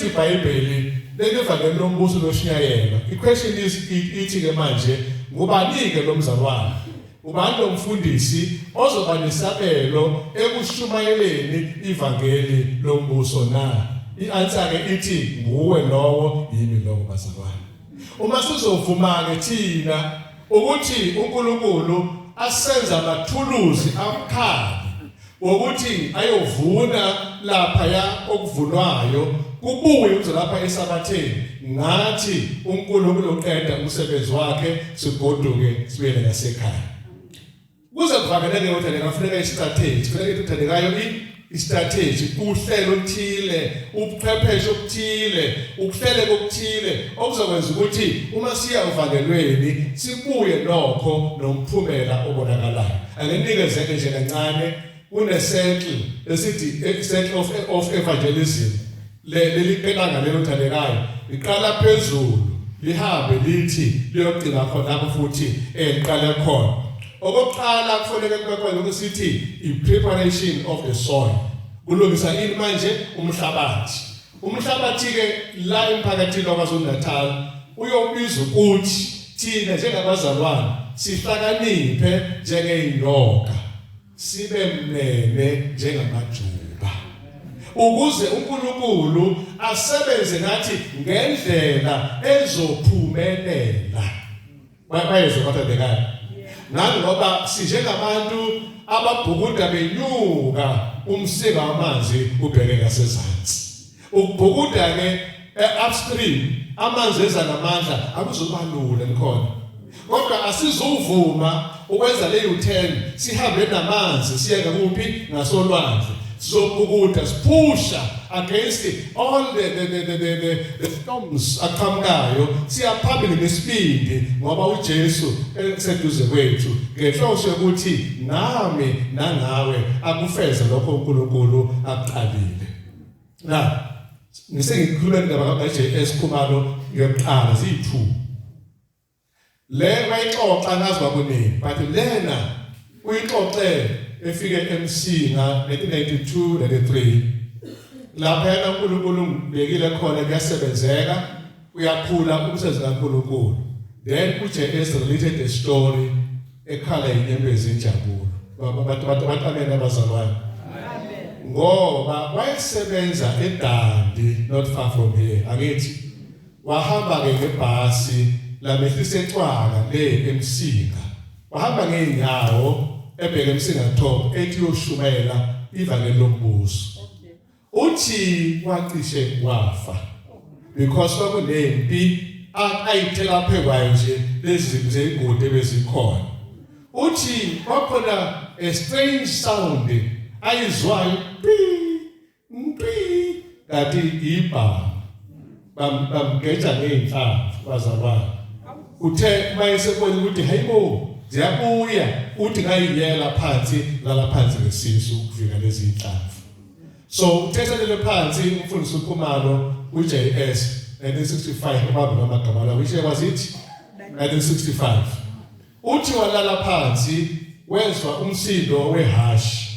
iBhayibheli lelivangeli lombuso loshunyayelwa iquestion is ithi ke manje ngubani-ke lo mzalwane ubani lo mfundisi ozoba nesabelo ekushumayeleni ivangeli lombuso na i-answer-ke ithi nguwe lowo yimi lowo bazalwane uma sizovuma-ke thina ukuthi unkulunkulu asenza amathuluzi abukhali wokuthi ayovuna laphaya okuvunwayo kubuye uze lapha esabatheni ngathi uNkulunkulu uqeda umsebenzi wakhe sigoduke sibuyele ngasekhaya kuze kuvakele ke ukuthi lekafuneka istrategy funeka ithathelekayo istrategy uhlelo oluthile ubuchwepheshe obuthile ukuhlele kokuthile okuzokwenza ukuthi uma siya uvalelweni sibuye nokho nomphumela obonakalayo Anginikezeke nje kancane kunesettle esithi eh, settle of, of evangelism leli qelanga lelo thandekayo liqala phezulu lihambe lithi liyogcina khona lapho futhi eliqale eh, khona okokuqala kufanele kube khona ukuthi i-preparation of the soil kulungisa ini manje umhlabathi Umhlabathi-ke la emphakathini waKwaZulu-Natal uyobiza ukuthi thina njengabazalwane sihlakaniphe njengeyinyoka sibe mnene njengamajuba ukuze uNkulunkulu asebenze nathi ngendlela ezophumelela bayezwa kodwa bekani nangoba sinjengabantu ababhukuda benyuka umsika wamanzi ubheke ngasezantsi ukubhukuda ke eh, upstream amanzi eza namandla akuzobalula nikhona kodwa asizuvuma ukwenza le u-turn sihambe namanzi siye ngakuphi ngasolwandle Sizobhukuda siphusha against all the the the the, the, the, the storms aqhamukayo siyaphambili ngesibindi ngoba uJesu eseduze kwethu ngenhloso yokuthi nami nangawe akufeze lokho uNkulunkulu akuqalile. Na ngisengikhuluma indaba kaJS Khumalo yokuqala ziyi2 Le bayixoxa nazi bakuningi but lena uyixoxe efike eMsinga 1992 93 lapha yena uNkulunkulu ngibekile khona kuyasebenzeka uyakhula umsebenzi kaNkulunkulu then kuje is related the story ekhala inyembezi injabulo baba bathi bathi bathi abazalwane ngoba wayesebenza eDandi not far from here angithi Wahamba-ke ngebhasi lamehlisa eCwaka le eMsinga. Wahamba ngey'nyawo ebheke eMsinga Top ethi uyoshumayela ivangeli lombuso. Uthi wacishe wafa because kwakunempi ayithela phe kwayo nje lezi zeyigodi ebezikhona uthi kwakhona a strange sound ayizwayo Mpi kanti ibhamu bamgeja ngeyinhlamvu bazalwane uthe mayesebona ukuthi hayibo ziyabuya uthi ngayiyela phansi lala phansi ngesisu ukuvika lezi inhlamvu so uthethelele phansi umfundisi ukhumalo uJS 1965 ubaba ngamagama lawo ishe wazithi 1965 uthi walala phansi wezwa umsindo wehashi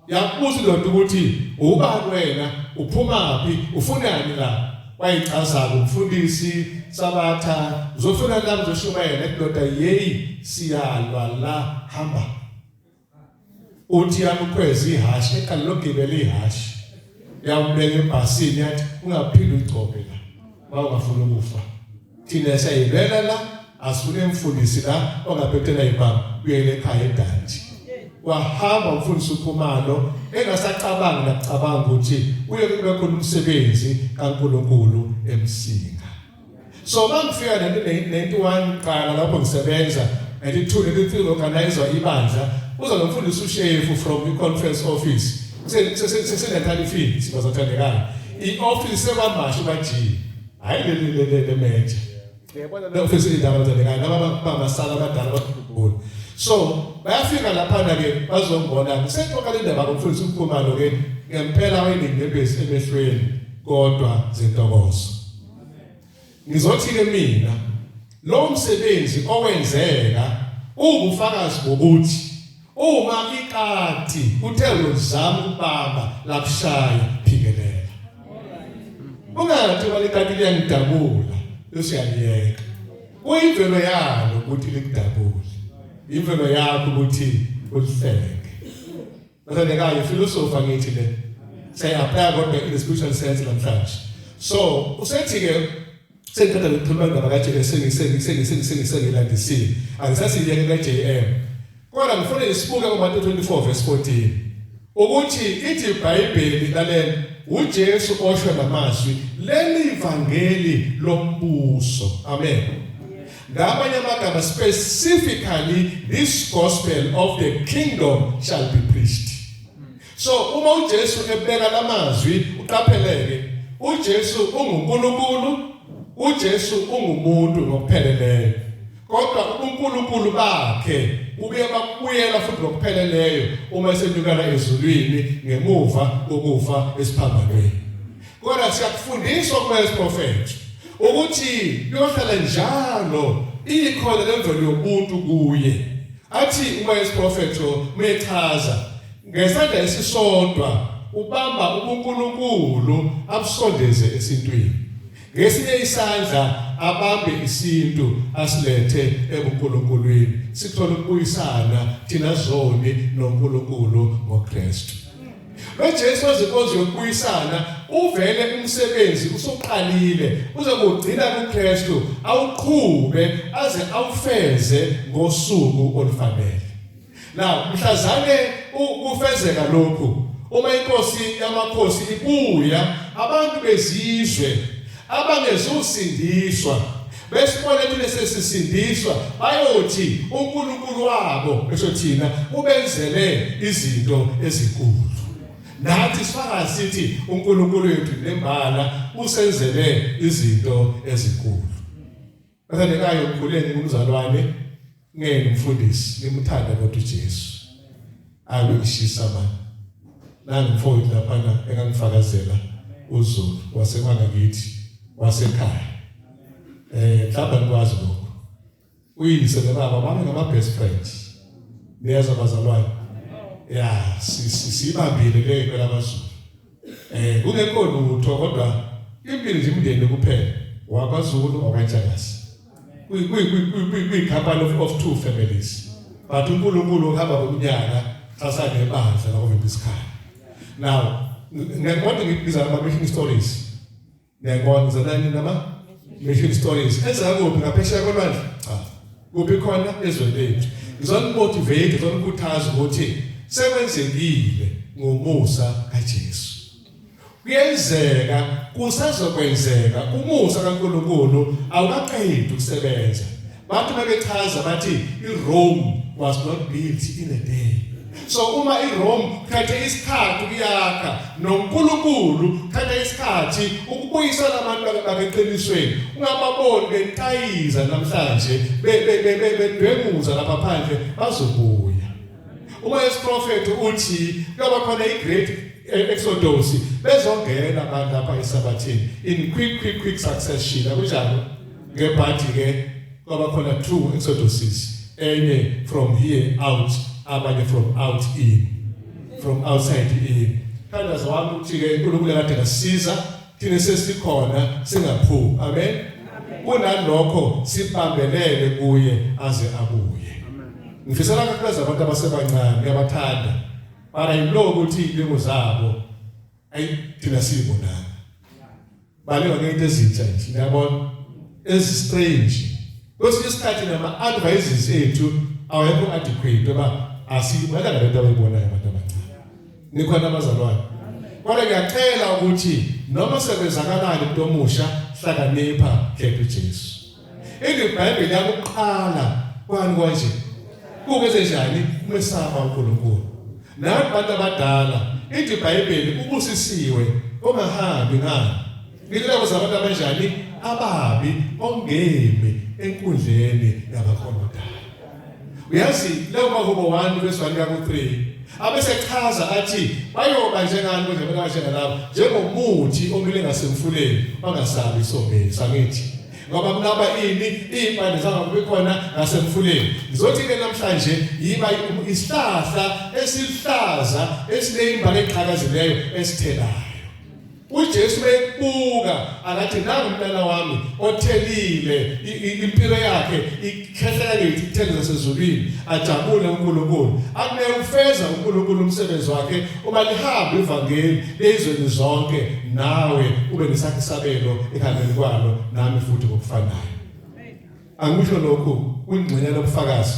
Yakubuza indoda ukuthi ubani wena, uphumaphi, ufunani la? Wayichaza-ke umfundisi Sabatha, uzofuna la uzoshumayela indoda yeyi siyalwa la hamba. Uthi yamukhweza ihhashi, eqala logibela ihhashi. Yawubeka ebhasini yathi ungaphinde ugcobe la. Wawungafuna ukufa. thina siyayivela la asifune mfundisi la ongaphetela ibanga kuyele ekhaya edanti wahamba umfundisi ukhumalo engasacabangi nakucabanga ukuthi uye kube khona umsebenzi kaNkuluNkulu emsinga so mangifika nento 91 qala lapho ngisebenza elithule liphilo organizer ibandla uza nomfundisi ushefu from the conference office sesesenthalifini sibazothandekana i-office sekwamasho bajini hayi leli leli lemeje yabona lokho fisa indaba nje kanti laba babasala abadala bakhumbula so bayafika lapha ke bazombona kuseqoka le ndaba kumfundisi ukhumalo ke ngempela wayenendebesi emehlweni kodwa zentokozo ngizothi ke mina lo msebenzi owenzeka uwubufakazi bokuthi Uma ikati uthe uzama ukubamba lakushaya phikelela. Ungathi uma ikati liyangidabula usiyaliyeka. Uyimvelo yalo ukuthi likudabule. Imvelo yakho ukuthi ulihleke. Bese nekayo filosofa ngithi le. Say apply kodwa in the spiritual sense namhlanje. So usethi ke Sengiqeda nokukhuluma indaba kaJM sengiseyilandisile. Angisasiyeke kaJM. Kodwa ngifuna ngisibuke kuMateyu 24 verse 14. Ukuthi ithi iBhayibheli lalela uJesu osho namazwi leli ivangeli lombuso. Amen. Ngamanye amagama specifically this gospel of the kingdom shall be preached. So uma uJesu ebeka lamazwi uqapheleke uJesu unguNkulunkulu uJesu ungumuntu ngokupheleleyo kodwa uNkulunkulu bakhe ubuye bakubuyela futhi ngokupheleleyo uma esenyukana ezulwini ngemuva kokufa esiphambanweni kodwa siyakufundiswa kwesiprofethi ukuthi kuyohlala njalo ikhona lemvelo yomuntu kuye athi uma isiprofethi mechaza Ngesandla esisodwa ubamba ubuNkulunkulu abusondeze esintwini. Ngesinye isandla abambe isintu asilethe ebuNkulunkulwini. Sithola ukubuyisana thina zoni noNkulunkulu ngoKristu. NoJesu wezinkonzo yokubuyisana uvele umsebenzi usuqalile uzokugcina kuKristu awuqhube aze awufeze ngosuku olufanele. Now mhlazane ukufezeka lokhu uma inkosi yamakhosi ibuya abantu bezizwe abangezusindiswa besibone thina sesisindiswa bayothi uNkulunkulu wabo esho thina ubenzele izinto ezinkulu nathi sifaka sithi uNkulunkulu wethu nembala usenzele izinto ezinkulu Bathandekayo mkhuleni kumzalwane ngeke mfundisi nimthanda kodwa uJesu. Abe ishisa manje. Nangu mfowethu lapha engangifakazela uZulu wasemanga kithi wasekhaya. Eh mhlawumbe ngikwazi lokho. Uyise nobaba bami ngama best friends. Niyeza bazalwane. Yeah, sibambile ke phela abazulu. Eh kungekho lutho kodwa impilo nje umndeni kuphela wakwaZulu okwaJalasi. Kuyi kuyi kuyi kuyi company of, of two families. But uNkulunkulu uhamba ngomnyaka sasane ebandla la ovimba isikhaya. Now ngiyakwazi ngibiza ama mission stories. Ngiyabona zanani nama mission stories. Ezaka kuphi ngaphesheya kolwandle? Cha. Kuphi khona ezweni lethu. Ngizonimotivate, ngizonikhuthaza ukuthi sekwenzekile ngomusa kaJesu. Kuyenzeka kusazokwenzeka umusa kaNkuluNkulu awukaqedi ukusebenza. Abantu babechaza bathi iRome was not built in a day. So uma iRome khethe isikhathi kuyakha noNkulunkulu khethe isikhathi ukubuyisa labantu bakeqinisweni ungababoni bentayiza namhlanje bedwenguza lapha phandle bazobuya. Uma esiprofethi uthi kuyoba khona iGreat Exodus bezongena abantu lapha esabathini in quick quick quick succession akunjalo ngebhadi ke kwaba khona two exoduses enye from here out abanye from out in from outside in thandazo wami ukuthi ke uNkulunkulu kade ngasiza thina sesikhona singaphumi amen kunalokho sibambelele kuye aze abuye ngifisela kakhulu abantu abasebancane uyabathanda mara yilo ukuthi ilimo zabo ayi thina sibonana Baleka ngento ezintsha nje. Ngiyabona ezi strange. Kwesinye isikhathi nama advices ethu awekho adequate oba asiyibona lento abayibonayo abantu abancane. Nikhona abazalwane. Kodwa ngiyacela ukuthi noma sekwenzakalayo umuntu omusha hlakanipha khetha uJesu. Eli Bhayibheli yakuqala kwani kwanje. Kukwenze njani umesaba uNkulunkulu? Nawe bantu abadala, ithi iBhayibheli ubusisiwe ongahambi ngani. Ngicela kuza abantu abanjani ababi ongemi enkundleni yabakhonodala. uyazi leyo mahubo wami kwesizwani kaku-3 abesechaza athi bayoba njengani konje bekashela lapho njengomuthi omile ngasemfuleni bangasabi isomeli sangithi ngoba kunaba ini iy'mpande zangakubi khona ngasemfuleni ngizothi-ke namhlanje yiba isihlahla esiluhlaza esineyimba eqhakazileyo esithelayo uJesu bekubuka akathi nangu umntana wami othelile impilo yakhe ikhehlela kithi ithele zasezulwini ajabule uNkulunkulu akune ufeza uNkulunkulu umsebenzi wakhe uma lihamba ivangeli lezweni zonke nawe ube nesakhe sabelo ekhaleni kwalo nami futhi ngokufanayo angikusho lokhu kungcina lobufakazi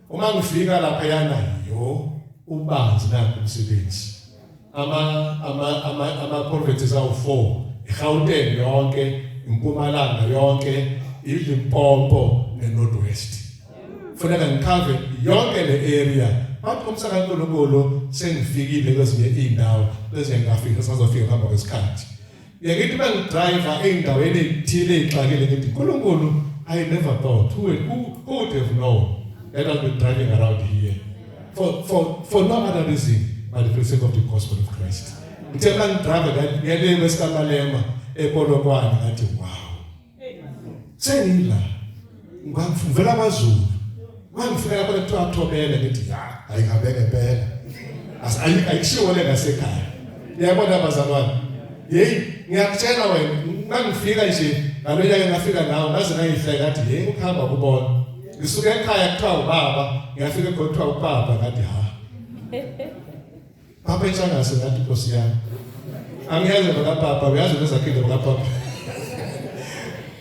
Uma ngifika lapha yana yo ubanzi nakho umsebenzi. Ama ama ama ama provinces awu 4. IGauteng yonke, iMpumalanga yonke, iLimpopo neNorth West. Funeka ngikhave yonke le area. Bathi umsaka uNkulunkulu sengifikile kwezinye izindawo bese ngafika sazofika ngaphambi kwesikhathi. Ngiyakithi uma ngidriver ey'ndaweni ey'thile ey'xakile ngithi Nkulunkulu I never thought who, who, who would have known that I'll be driving around here for, for, for no other reason but for the sake of the gospel of Christ. Ngithe uma ngidriver ngiyalema esikamalema ePolokwane ngathi wow sengila ngavela kwaZulu ngangifika lapho kuthiwa thobele ngithi ya ayikabeke phela ayishiwo le ngasekhaya yabona bazalwane yeyi ngiyakutshela wena ngangifika nje ngalo nyaka ngafika nawo ngaze ngayihleka ngathi yeyi ukuhamba kubona ngisuke ekhaya kuthiwa ubaba ngiyafika kuthiwa ubaba ngathi ha Papa isangase ngathi Nkosi yami. Angiyeze baka papa uyazi nezakhile baka papa.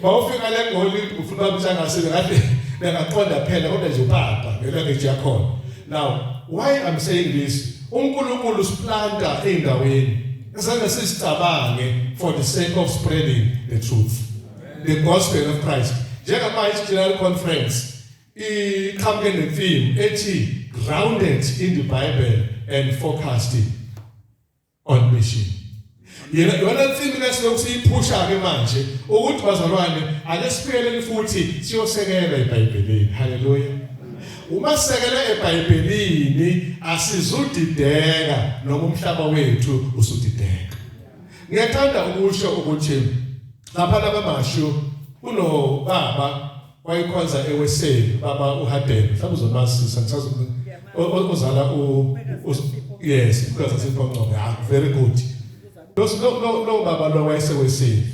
Bawufika le ngoli ufuna umsangase ngathi bengaqonda phela kodwa nje upapa ngelanguage yakhona. Now why I'm saying this uNkulunkulu siplanta endaweni esana sisicabange for the sake of spreading the truth the gospel of Christ njengamanje general conference iqhamuke nemfimbo ethi grounded in the bible and focused on mission yena yona mfimbo lesilokhu siyiphusha ke manje ukuthi bazalwane ake siphele futhi siyosekela ebhayibhelini haleluya uma sisekela ebhayibhelini asizudideka noma umhlaba wethu usudideka ngiyathanda ukusho ukuthi lapha labamashu kunobaba wayikhonza eweseli baba uHadebe mhlawumbe uzomazisa ngisazi ozala u yes because siphoncoko ha very good those no no no baba lo wayeseweseli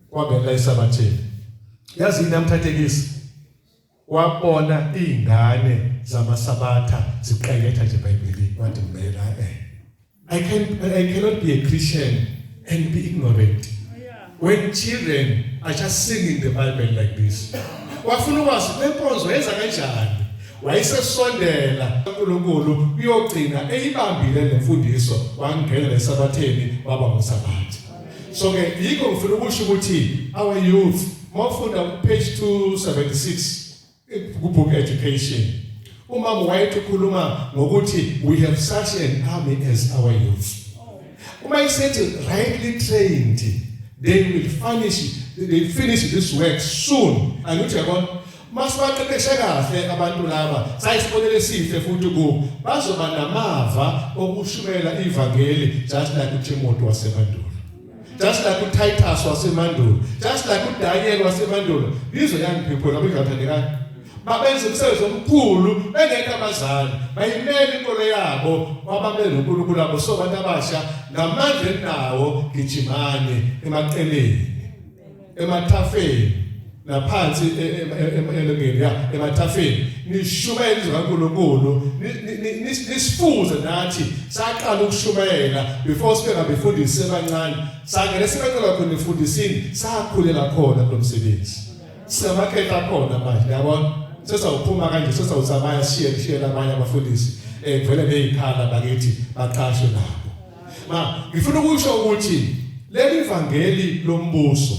kwabela esabatheni yazi yini amthathekisi wabona izingane zamasabatha ziqeketha nje eBhayibhelini wathi mina eh I can I cannot be a Christian and be ignorant. When children are just singing the Bible like this. Wafuna ukwazi lenkonzo yenza kanjani? Wayesesondela kuNkulunkulu uyogcina eyibambile lemfundiso wangena lesabatheni baba ngosabatha. So ke yikho ngifuna ukusho ukuthi our youth mawufunda page 276 kubook education umama wayethi ukhuluma ngokuthi we have such an army as our youth uma isethi rightly trained they will finish they finish this work soon angithi yabona masibaqeqeshe kahle abantu laba sayisibonele esihle futhi ku bazoba namava okushumayela ivangeli just like uThimothi wasemandulo Just like uTitus wasemandulo, just like uDaniel wasemandulo, bizwe young people labo ngibathandekayo. Babenza umsebenzi omkhulu bengekho abazali, bayimela inkolo yabo kwababe noNkulunkulu wabo so abantu abasha ngamandla enawo gijimani emaqeleni. emathafeni naphansi e, e, e, elongeni ya emathafeni nishumayela izwi kaNkulunkulu nisifuze nathi saqala ukushumayela before sibe ngabefundisi abancane sangene sibencela khona efundisini sakhulela khona kulo msebenzi siyamakhetha khona manje yabona sesawuphuma kanje sesawuzamaya siye kushiyela abanye abafundisi um vele ney'khala bakithi baqashwe nabo Ma, ngifuna ukusho ukuthi leli vangeli lombuso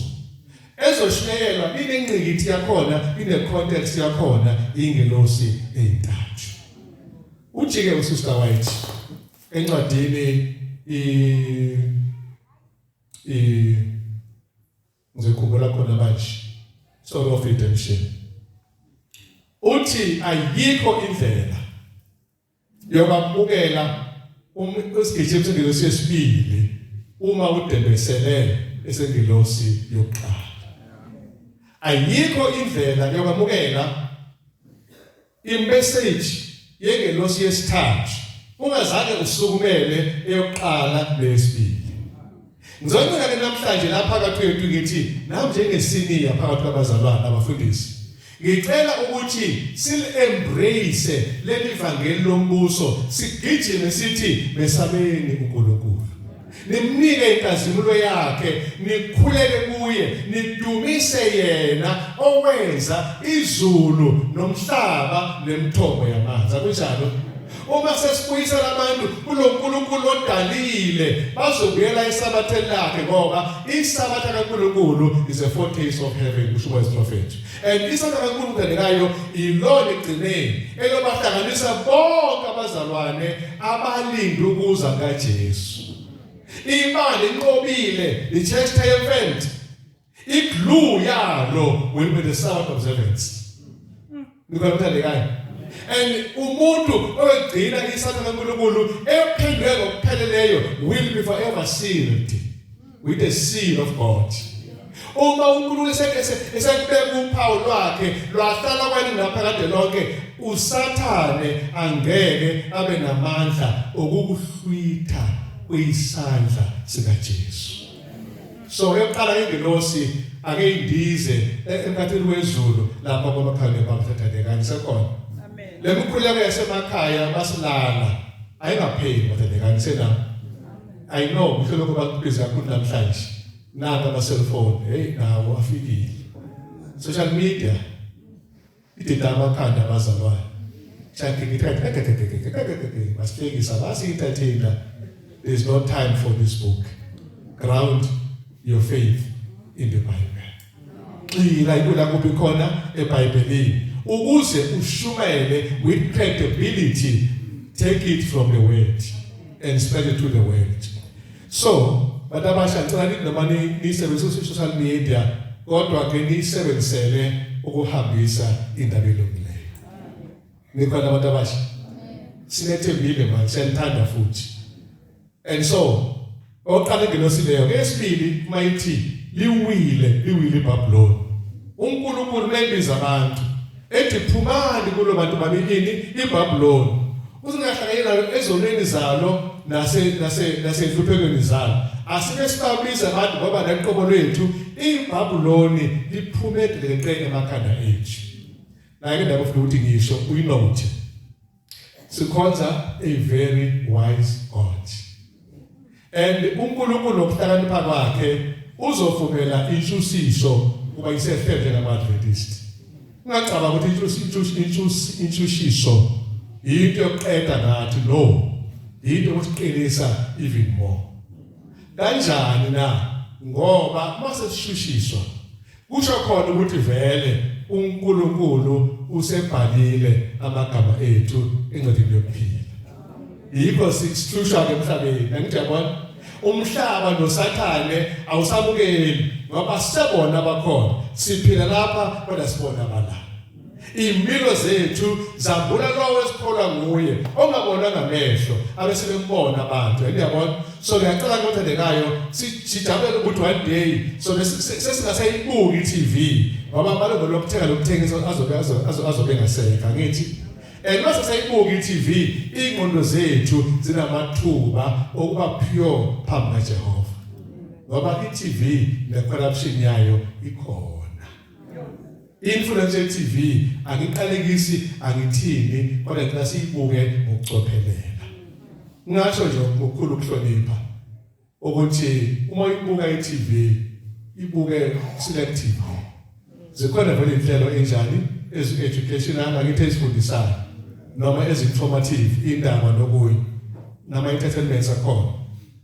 ezoshiyelwa inengqikithi yakhona ine context yakhona ingelosi ezintathu ujike usister white encwadini i i ngizikhumbula khona manje story of redemption uthi ayikho indlela Uyababukela um, isigijimi sengelosi yesibili uma udembesele esengelosi yokuqala. Ayikho indlela yokwamukela imessage yengelosi yesithathu ungazange usukumele eyokuqala nesibili. Ngizoncela ke namhlanje lapha phakathi kwethu ngithi nam njengesiniya phakathi kwabazalwane abafundisi ngicela ukuthi sil-embrace leli vangeli lombuso sigijime sithi mesabeni uNkulunkulu nimnike inkazimulo yakhe nikhuleke kuye nidumise yena owenza izulu nomhlaba nemithombo yamanzi akunjalo Uma sesibuyisela abantu kuloNkulunkulu odalile bazobuyela isabathe lakhe ngoba isabatha kaNkulunkulu is a foretaste of heaven kusho uMprofethi and isabatha kaNkulunkulu kanikayo ilona igcineni elobahlanganisa bonke abazalwane abalinde ukuza kaJesu imali inqobile i church triumphant I-glue yalo will be the Sabbath observance. Nikwamthandekayo. And umuntu oyogcina isatha kaNkulunkulu ephendwe ngokupheleleyo will be forever sealed with the seal of God. Uma uNkulunkulu esekubeka uphawu lwakhe lwahlala kwani naphakade lonke usathane angeke abe namandla okukuhlwitha kuyisandla sikaJesu. so eyokuqala ingelosi ake indize e- emkhathini wezulu lapha kwabakhanye bamthathandekani sekhona le mikhuleko yasemakhaya basilala ayingapheli bathandekani sena i know mhlo lokho bakubiza kakhulu namhlanje naka ama-cellphone heyi nawo afikile social media Idida amakhanda abazalwane. Chakhe ngithathe basihlekisa basiyithathinda. There's no time for this book. Ground your faith in the Bible. Xila ikula kuphi khona eBhayibhelini ukuze ushumayele with credibility take it from the word and spread it to the world. so bantu abasha ngicela nithi noma niyisebenzise social media kodwa ke niyisebenzisele ukuhambisa indaba elungileyo nikhona abantu abasha sinethembile manje siyanithanda futhi and so oqala ingelosi leyo ke esibili mayithi liwile liwile ibabuloni uNkulunkulu mebiza abantu ethi phumani kulo bantu banikini iBabylon usingahlanganyeli nayo ezonweni zalo nase nase nasenhluphekweni zalo asike sibabiza abantu ngoba naqobo lwethu iBabylon liphume dleqe emakhanda ethu la ke ndabafuna ukuthi ngisho uyinothi Sikhonza a very wise God. And uNkulunkulu nokuhlakanipha kwakhe uzovumela intshusiso kuba isehlele ngama-Adventist. Ungacabanga ukuthi intshusiso yinto yokuqeda ngathi no yinto yokusiqinisa even more. Kanjani na? Ngoba uma sesishushiswa Kusho khona ukuthi vele uNkulunkulu usebhalile amagama ethu encwadini yokuphila. Yikho sihlushwa ke emhlabeni. Ngiyabona umhlaba nosathane awusabukeli ngoba sebona bakhona. Siphila lapha kodwa sibona abala. Impilo zethu zambula lowo esikholwa nguye ongabona ngamehlo abese bembona abantu uyabona so ngiyacela ukuthi ndekayo sijabule ukuthi one day so sesingasayibuki iTV ngoba maloko lokuthenga lokuthengisa azobe azobe ngaseka ngithi and mase sayibuka iTV ingqondo zethu zinamathuba okuba pure phambi kaJehova ngoba iTV ne corruption yayo ikhona Influence TV angiqalekisi angithini kodwa ngicela siyibuke ngokucophelela. Ngasho nje ngokukhulu ukuhlonipha ukuthi uma uyibuka iTV ibuke selective. Zikhona vele inhlelo enjani ezi educational angithi ezifundisayo noma ezi informative indaba nokuyi nama entertainment akhona.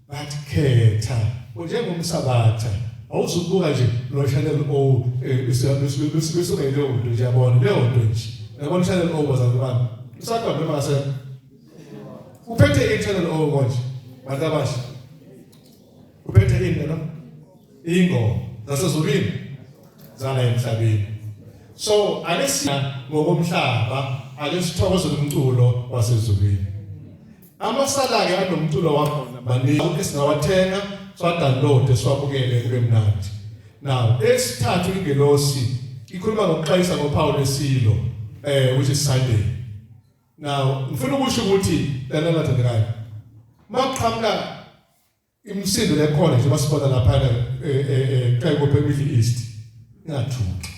but khetha njengomsabatha awuzukubuka nje lo channel o isuke leyo nto nje yabona leyo nto nje yabona channel o bazali bami usakwa noma ngase uphethe i channel o konje bantu abasha uphethe into no ingoma zasezulwini zala emhlabeni so alesina ngokomhlaba alesithokoze umculo wasezulwini Amasala-ke anomculo wakhona maningi esingawathenga siwadownloade siwabukele kube mnandi. Now esithathu ingelosi ikhuluma ngokuqayisa ngophawu lesilo eh which is Sunday. Now ngifuna ukusho ukuthi lana lathandekayo. Maqhamuka Imisindo lekhona nje basibona lapha eh, eh, eh, eqhayi kophe Middle East. Ngathuki.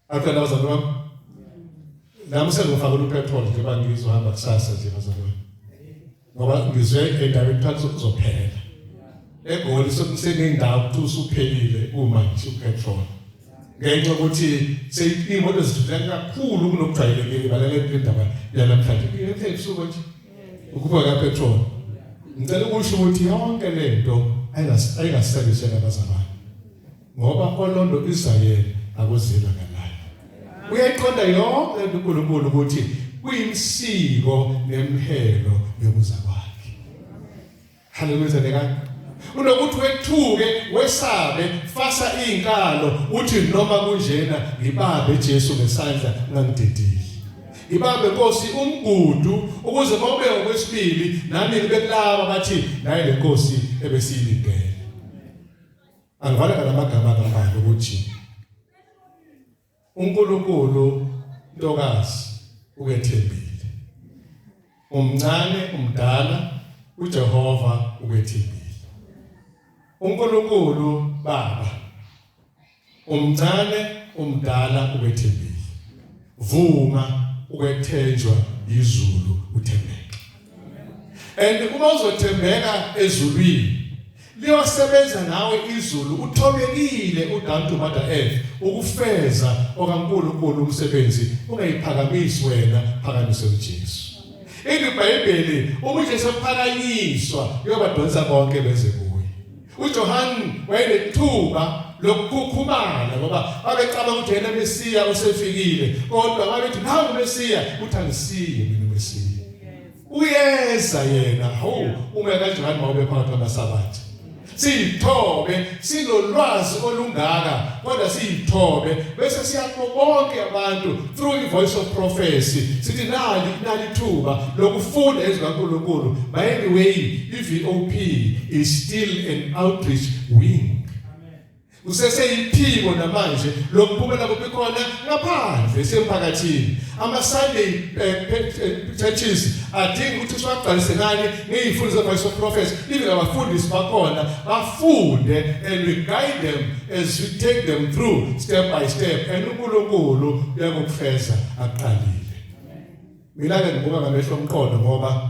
After that was a problem. Nami sengifaka upetrol nje bangizohamba kusasa nje bazalwane. Ngoba ngizwe endaweni phansi kuzophela. eGoli sekunendawo ukuthi usuphelile uma nje upetrol ngenxa ukuthi seyimoto zithutha kakhulu kunokujwayelekile balale indaba yanamhlanje ngeke ebusuku nje ukuba ka petrol ngicela ukusho ukuthi yonke lento ayingasebenzise abazalwane ngoba olondo Israel akuzila ngalayo uyayiqonda yonke uNkulunkulu ukuthi kuyimsiko nemhelo yokuzalwa Haleluya zalekani. Unokuthi wethuke wesabe fasa izinkalo uthi noma kunjena ngibabe Jesu ngesandla ngangidedile. Ibambe Nkosi umgudu ukuze mobe okwesibili nami ngibe kulaba bathi naye le Nkosi ebesiyilindele. Angivala ngamagama kaMbali ukuthi uNkulunkulu ntokazi ukethembile umncane umdala uJehova ukethembile uNkulunkulu baba umncane umdala ukethembile vuma ukwethenjwa izulu uthembeke and uma uzothembeka ezulwini Liyosebenza nawe izulu uthobekile udantu mother earth ukufeza okaNkulunkulu umsebenzi ungayiphakamisi wena phakamise uJesu. Eli Bhayibheli uma uJesu ephakanyiswa uyobadonsa bonke beze kuye. UJohane wayenethuba lokukhukhumala ngoba babecabanga ukuthi yena Mesiya usefikile kodwa babethi nangu Mesiya uthi angisiye mina Mesiya. uyeza yena hawu uma kanjani mawube phakathi kwamasabatha siyithobe sinolwazi olungaka kodwa siyithobe bese siyakho bonke abantu through the voice of prophecy sithi nali nali thuba lokufunda izwi kaNkuluNkulu by the way iVOP is still an outreach wing kuseseyiphiko namanje lokuphumela kuphi khona ngaphandle semphakathini ama-sunday eh, eh, churches adinga ukuthi siwagcwalise nani ngeyifundo ze-voice of prophets even abafundisi bakhona bafunde and we guide them as we take them through step by step and unkulunkulu uyakukufeza aqalile mina-ke ngibuka ngamehlo omqondo ngoba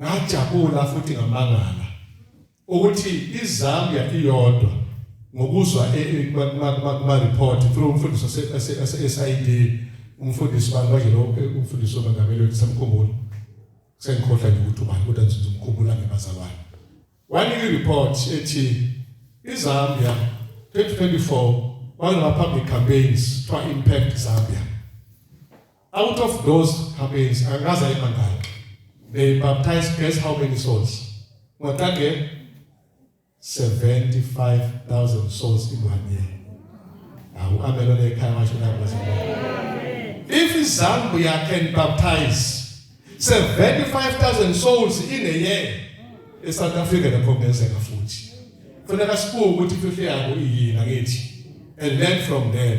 Ngajabula futhi ngamangala ukuthi iZambia iyodwa ngokuzwa kuma-report through umfundisi ose-SID umfundisi bani manje lo umfundisi obangameli wethu samkhumbula sengikhohlwa nje ukuthi ubani kodwa ngizomkhumbula ngebazalwane wanika i-report ethi izambia 2024 wangama-public campaigns kuthiwa impact zambia Out of those campaigns, angikaze ayibandakanye. They baptized guess how many souls? Watage 75,000 souls in one year. Awu amelo lekhaya washo nabaza. If Zambia can baptize 75,000 souls in a year, in South Africa nakho kungenzeka futhi. Kufanele sibuke ukuthi imfihlo yabo iyini angithi. And learn from them.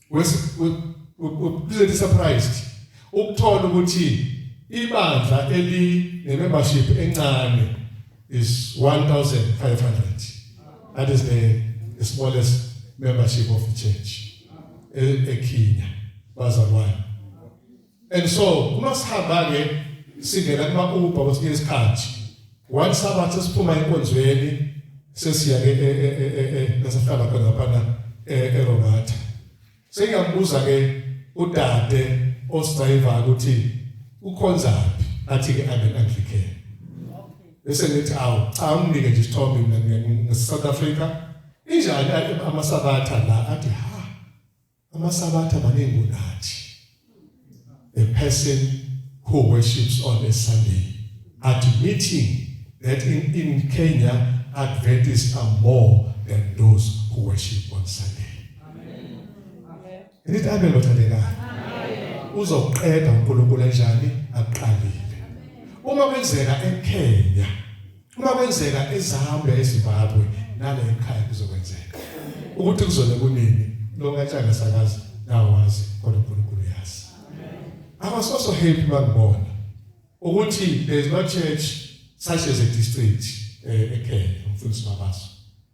wepresent surprised ukuthola ukuthi ibandla eli ne membership encane is 1500 that is the, the smallest membership of the church e, eKenya bazalwane and so uma sihamba ke singena kuma Uber kwesinye isikhathi one sabathi siphuma enkonzweni sesiya ke e, e, e, nasahlala khona phana eRobatha sengiyabuza ke udade osidriver ukuthi ukhonzaphi athi ke amen anglican bese ngithi awu cha unginike nje isithombe mina ngisouth africa injani amasabatha la athi ha Amasabatha maningi kunathi. A person who worships on a Sunday admitting that in, in Kenya Adventists are more than those who worship on Sunday. Amen. Amen. Nithi amen bathandekayo. Uzoqeda uNkulunkulu enjani aqalile. Uma kwenzeka eKenya Uma kwenzeka ezihambe eZimbabwe nale ekhaya kuzokwenzeka. Ukuthi kuzole kunini lokatshaka sakazi nawazi kodwa uNkulunkulu uyazi. I was also happy bangibona ukuthi there's no church such as a district eh, eKenya umfundisi Mabaso.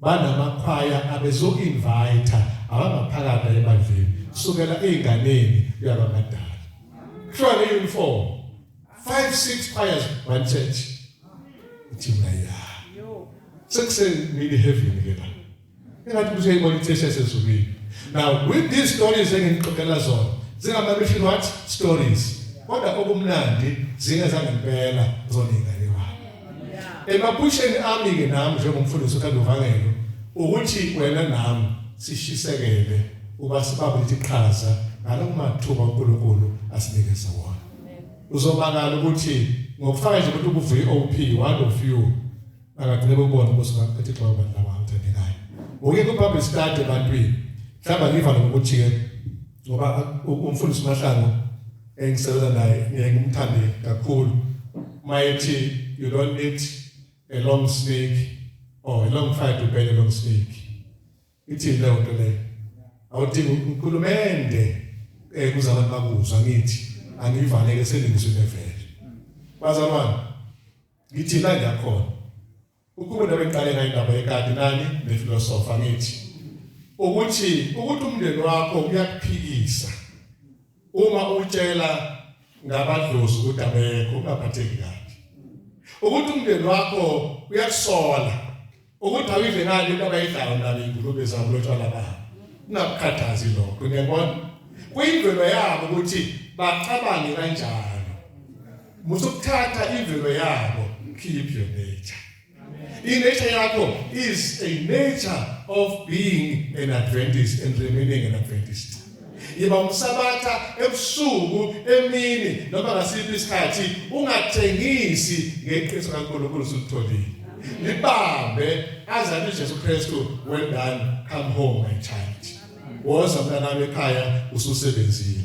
banamakhwaya abezoinvite abangaphakathi ebandleni kusukela ezinganeni kuya kwamadala kuthiwa le uniform 5 6 choirs one church ithi mina ya sekuseni heavy ke la engathi kuze ibona ithesha sezulwini now with these stories engixoxela zona zingama mission what stories kodwa okumnandi zingeza ngempela zona ingane wami Emaphusheni ami ke nami njengomfundisi uKandovangelo ukuthi wena nami sishisekele uba sibambe iqhaza ngalokumathuba uNkulunkulu asinikeza wona. Uzobakala ukuthi ngokufaka nje ukuthi ukuvuye OP one of you akagcine kubona ukuthi ngaphethe xa abantu laba ngithandekayo. Uke kubambe study ebantwini. Mhlawumbe ngiva lokuthiye ngoba umfundisi uMahlangu engisebenza naye ngeke ngimthande kakhulu mayethi you don't need a long snake or a long fight to bend a long snake ithi leyo nto leyo awudingi ukhulumende eh kuze abantu bakuzwa ngithi angivaleke selingizwe levele bazalwane ngithi la ngiyakhona Ukube ndabengiqale ngayindaba yekati nani nefilosofa ngithi ukuthi ukuthi umndeni wakho uyakuphikisa uma utshela ngabadlozi ukuthi abekho ungaphatheki kabi ukuthi umndeni wakho uyakusola ukuthi awidle ngani into abayidlayo nani ingulube zabo lotshwala babo ungakukhathazi lokho ngiyabona kuyimvelo yabo ukuthi bacabange kanjani musukuthatha imvelo yabo keep your nature inature yakho is a nature of being an adventist and remaining an adventist yiba umsabatha ebusuku emini noma ngasiphi isikhathi ungathengisi ngeqiniso kaNkulunkulu usutholile libambe azana uJesu Kristu well done come home my child woza mntanami ekhaya ususebenzile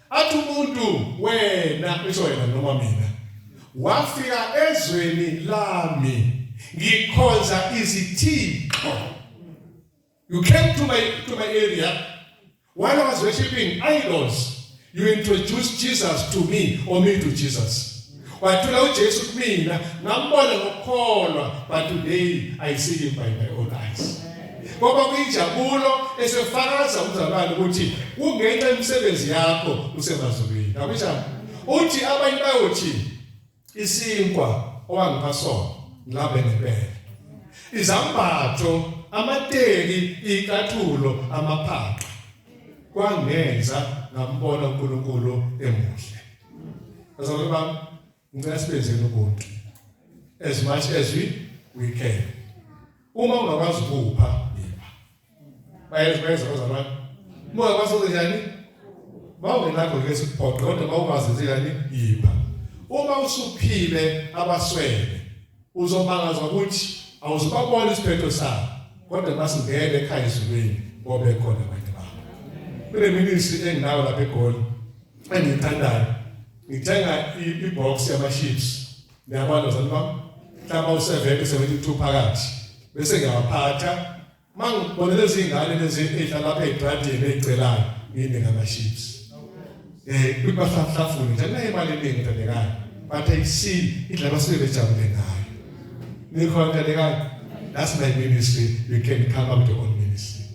Athi umuntu wena isho yena noma mina wafika ezweni lami ngikhonza izithixo you came to my to my area while I was worshiping idols you introduced Jesus to me or me to Jesus Wathula uJesu kumina ngambona ngokukholwa but today I see him by my own eyes. Ngoba kuyinjabulo esefakaza umzalwane ukuthi kungenxa yemisebenzi yakho usemazulwini. Akunjalo. Uthi abanye bayothi isinkwa owangipha sona ngilabe ngempela. Izambatho, amateki, ikathulo, amaphaqa kwangenza ngambona uNkulunkulu emuhle. Bazalwane bami, ngicela sibenzeni ubuntu as much as we we can. Uma ungakwazi ukupha, yipha. Bayenza bayenza bazalwane. Uma ungakwazi ukunjani? Mawungenakho ke sikuphoqe kodwa mawukwazi nje yani yipha. Uma usuphile abaswele Uzomangazwa ukuthi awuzubabona isiphetho sabo kodwa basingene ekhaya ezulwini ngoba ekhona abanye babo. Kule ministry enginayo lapha eGoli engiyithandayo ngithenga i-box yama-chips niyabona zani bam mhlawumbe u-70 72 phakathi bese ngiyawaphatha Mangibona lezi ngane lezi edla lapha egradini egcelayo yini ngama chips. Eh kubahlafuni nje naye imali eningi ndodekayo. But I see idla basuke bejabule ngayo. Nikhona ndodekayo. That's my ministry. You can come up to your own ministry.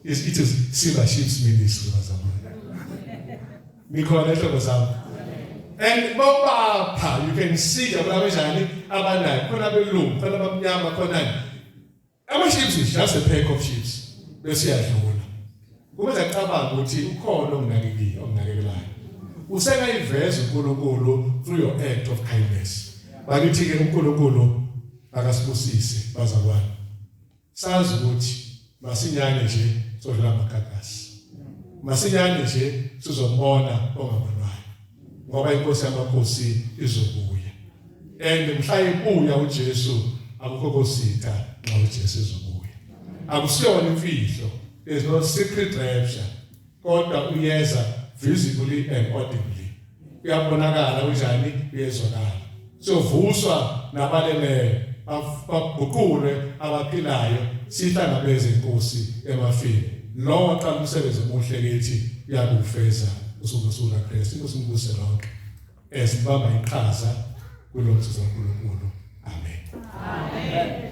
It's, it is silver chips ministry bazamana. Nikhona ehlobo zami. And bobapha you can see abanye njani abanayo khona belungu khona abamnyama khona Ama chips is just a pack of chips bese yadlula. Kubenza cabanga ukuthi ukhona onginakekile onginakekelayo. Usengayiveza uNkulunkulu through your act of kindness. Bakithi ke uNkulunkulu akasibusise bazalwane. Sazi ukuthi masinyane nje sodlula amagagasi. Masinyane nje sizombona ongabonwayo. ngoba inkosi yamakhosi izobuya and mhla ibuya uJesu akukho kositha nxa uJesu ezobuya akusiyona imfihlo there's no secret rapture kodwa uyeza visibly and audibly uyabonakala unjani uyezwakala Siyovuswa nabaleleyo, baguqulwe abaphilayo, sihlangabeze iNkosi emafini. Lowo aqala umsebenzi omuhle kithi uyakuwufeza usuku nosuku laKristu. Inkosi imbuse lonke esibamba iqhaza kulo msebenzi kaNkulunkulu. Amen. Amen.